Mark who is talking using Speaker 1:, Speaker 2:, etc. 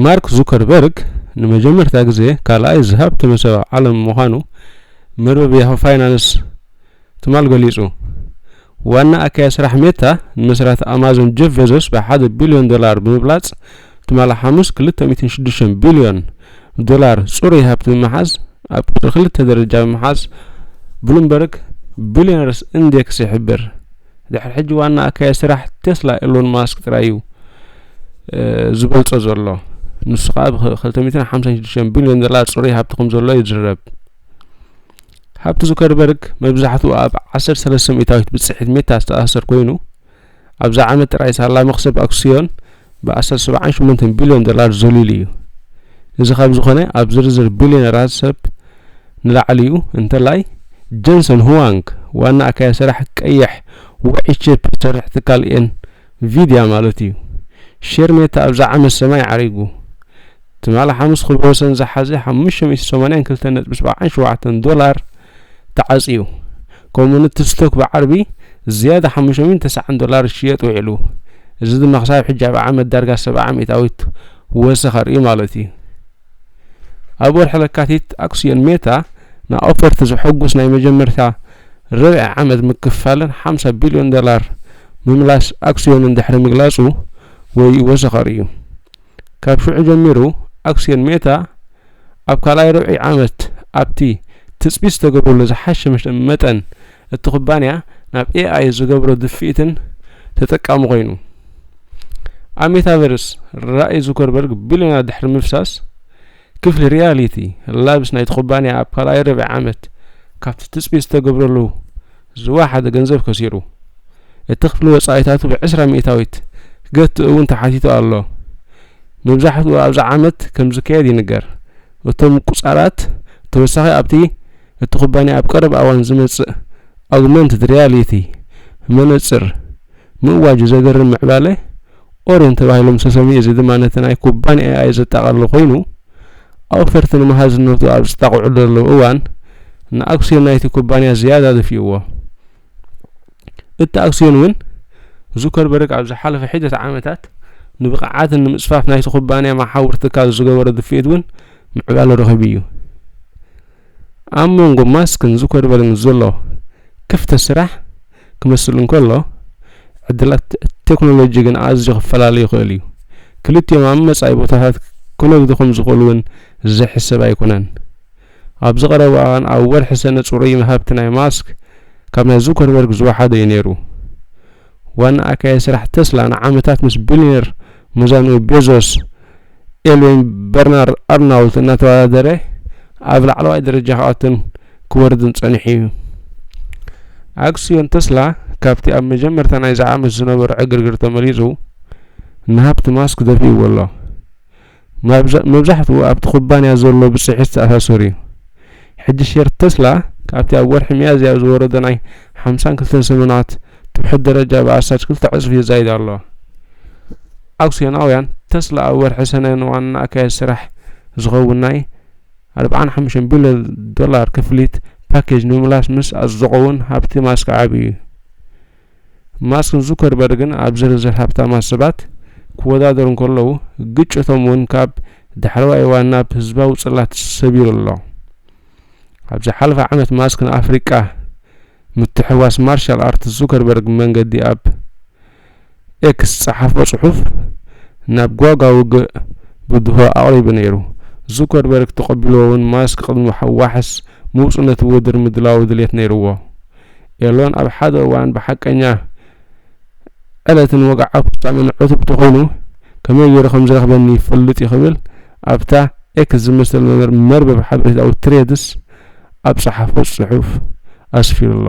Speaker 1: ማርክ ዙከርበርግ ንመጀመርታ ግዜ ካልኣይ ዝሃብተመ ሰብ ዓለም ምዃኑ መርበብ ያሁ ፋይናንስ ትማል ገሊጹ። ዋና ኣካያዲ ስራሕ ሜታ ንመስራቲ ኣማዞን ጀፍ ቤዞስ ብሓደ ቢልዮን ዶላር ብምብላጽ ትማል ሓሙስ 2.6 ቢልዮን ዶላር ጽሩይ ሃብቲ ብምሓዝ ኣብ ቁጽሪ ክልተ ደረጃ ብምሓዝ ብሉምበርግ ቢልዮነርስ ኢንዴክስ ይሕብር። ድሕሪ ሕጂ ዋና ኣካያዲ ስራሕ ቴስላ ኤሎን ማስክ ጥራይ እዩ ዝበልጾ ዘሎ ንሱ ከዓ ብ256 ቢልዮን ዶላር ፅሩይ ሃብቲ ከም ዘሎ ይዝረብ ሃብቲ ዙከርበርግ መብዛሕትኡ ኣብ 13 ሚእታዊት ብፅሒት ሜታ ዝተኣሰር ኮይኑ ኣብዛ ዓመት ጥራይ ሳላ መኽሰብ ኣክስዮን ብኣስታት ሰብዓን ሸሞንተን ቢልዮን ዶላር ዘልዩሉ እዩ። እዚ ካብ ዝኾነ ኣብ ዝርዝር ቢልዮነራት ሰብ ንላዕሊ እዩ፣ እንተላይ ጀንሰን ሁዋንግ ዋና ኣካያዲ ስራሕ ቀይሕ ውዑይ ቺፕ ዝሰርሕ ትካል ኤን ቪድያ ማለት እዩ። ሼር ሜታ ኣብዚ ዓመት ሰማይ ዓሪጉ። ትማሊ ሓሙስ ክብረ ወሰን ዝሓዘ ሓሙሽተ ሚእቲ ሰማንያን ክልተ ነጥቢ ሰብዓን ሸውዓተን ዶላር ተዓፅዩ ከምኡ እውን እቲ ስቶክ ብዓርቢ ዝያዳ ሓሙሽተ ሚእቲ ተስዓን ዶላር ዝሽየጥ ውዒሉ እዚ ድማ ክሳብ ሕጂ ኣብ ዓመት ዳርጋ ሰብዓ ሚእታዊት ወሰኽ ኣርእዩ ማለት እዩ ኣብ ወርሒ ለካቲት ኣክስዮን ሜታ ንኣውፈርቲ ዘሐጉስ ናይ መጀመርታ ርብዒ ዓመት ምክፋልን ሓምሳ ቢልዮን ዶላር ምምላስ ኣክስዮንን ድሕሪ ምግላጹ ወይ ወሰኸር እዩ ካብ ሽዑ ጀሚሩ ኣክስዮን ሜታ ኣብ ካልኣይ ርብዒ ዓመት ኣብቲ ትፅቢት ዝተገብረሉ ዝሓሸ መጠን እቲ ኩባንያ ናብ ኤኣይ ዝገብሮ ድፍኢትን ተጠቃሚ ኮይኑ። ኣብ ሜታቨርስ ራእይ ዙከርበርግ ቢልዮናት ድሕሪ ምፍሳስ፣ ክፍሊ ሪያሊቲ ላብስ ናይቲ ኩባንያ ኣብ ካልኣይ ርብዒ ዓመት ካብቲ ትጽቢት ዝተገብረሉ ዝወሓደ ገንዘብ ከሲሩ። እቲ ክፍሊ ወጻኢታቱ ብዕስራ ሚእታዊት ክገትእ እውን ተሓቲቱ ኣሎ። መብዛሕትኡ ኣብዚ ዓመት ከም ዝካየድ ይንገር። እቶም ምቁጽጻራት ብተወሳኺ ኣብቲ እቲ ኩባንያ ኣብ ቀረባ እዋን ዝመጽእ ኣጉመንትድ ሪያሊቲ መነጽር ምእዋጁ ዘገርም ምዕባለ ኦርዮን ተባሂሎም ዝተሰምዩ እዚ ድማ ነቲ ናይ ኩባንያ ኤኣይ ዘጠቓልል ኮይኑ፣ ኣውፈርቲ ንመሃዝነቱ ኣብ ዝጣቕዑሉ ዘለዉ እዋን ንኣክስዮን ናይቲ ኩባንያ ዝያዳ ደፊኡዎ። እቲ ኣክስዮን እውን ዙከርበርግ ኣብ ዝሓለፈ ሒደት ዓመታት ንብቕዓትን ንምጽፋፍ ናይቲ ኩባንያ መሓውር ትካል ዝገበሮ ድፍኢት እውን ምዕባለ ረኺቡ እዩ። ኣብ መንጎ ማስክን ዙከርበርግን ዘሎ ክፍተት ስራሕ ክመስል እንከሎ፣ ዕድላት ቴክኖሎጂ ግን ኣዝዩ ክፈላለ ይኽእል እዩ። ክልቲኦም ኣብ መጻኢ ቦታታት ክነግዱ ከም ዝኽእሉ እውን ዘይሕሰብ ኣይኮነን። ኣብዚ ቀረባ እዋን ኣብ ወርሒ ሰነ ጽሩይ ሃብቲ ናይ ማስክ ካብ ናይ ዙከርበርግ ዝወሓደ እዩ ነይሩ። ዋና ኣካያዲ ስራሕ ተስላ ንዓመታት ምስ ቢልዮነር ሙዛኑ ቤዞስ ኤልዌን በርናር ኣርናውት እናተወዳደረ ኣብ ላዕለዋይ ደረጃ ክኣቱን ክወርድን ጸኒሑ እዩ። ኣክስዮን ተስላ ካብቲ ኣብ መጀመርታ ናይዚ ዓመት ዝነበሮ ዕግርግር ተመሊሱ ንሃብቲ ማስክ ደፊእዎ ኣሎ። መብዛሕትኡ ኣብቲ ኩባንያ ዘሎ ብጽሒት ዝተኣሳሰር እዩ። ሕጂ ሼር ተስላ ካብቲ ኣብ ወርሒ ሚያዝያ ዝወረደ ናይ ሓምሳን ክልተን ሰሙናት ትውሕድ ደረጃ ብኣስታት ክልተ ዕጽፊ የዛይድ ኣሎ። ኣክስዮናውያን ተስላ ኣብ ወርሒ ሰነ ንዋና ኣካያዲ ስራሕ ዝኸውን ናይ ኣርብዓን ሓሙሽተን ቢልዮን ዶላር ክፍሊት ፓኬጅ ንምምላስ ምስ ኣጽደቑ'ውን ሃብቲ ማስክ ዓብዩ እዩ። ማስክን ዙከርበርግን ኣብ ዝርዝር ሃብታማት ሰባት ክወዳደሩ እንከለዉ ግጭቶም እውን ካብ ዳሕረዋይ እዋን ናብ ህዝባዊ ጽላት ሰቢሩ ኣሎ። ኣብ ዝሓለፈ ዓመት ማስክ ንኣፍሪቃ ምትሕዋስ ማርሻል ኣርት ዙከርበርግ መንገዲ ኣብ ኤክስ ጸሓፎ ጽሑፍ ናብ ጓጋ ውግእ ብድሆ ኣቕሪቡ ነይሩ። ዙከርበርግ ተቐቢልዎ እውን ማስክ ቅድሚ ዋሕስ ምውጹ ነቲ ውድር ምድላዉ ድሌት ነይርዎ። ኤሎን ኣብ ሓደ እዋን ብሓቀኛ ዕለትን ወግዓዊ ፍጻሜን ዕቱብ እንተኾይኑ ከመይ ገይሩ ከም ዝረኽበኒ ይፈልጥ እዩ ክብል ኣብታ ኤክስ ዝመስል መርበብ ሓበሬታኡ ትሬድስ ኣብ ጸሓፎ ጽሑፍ ኣስፊሩ ኣሎ።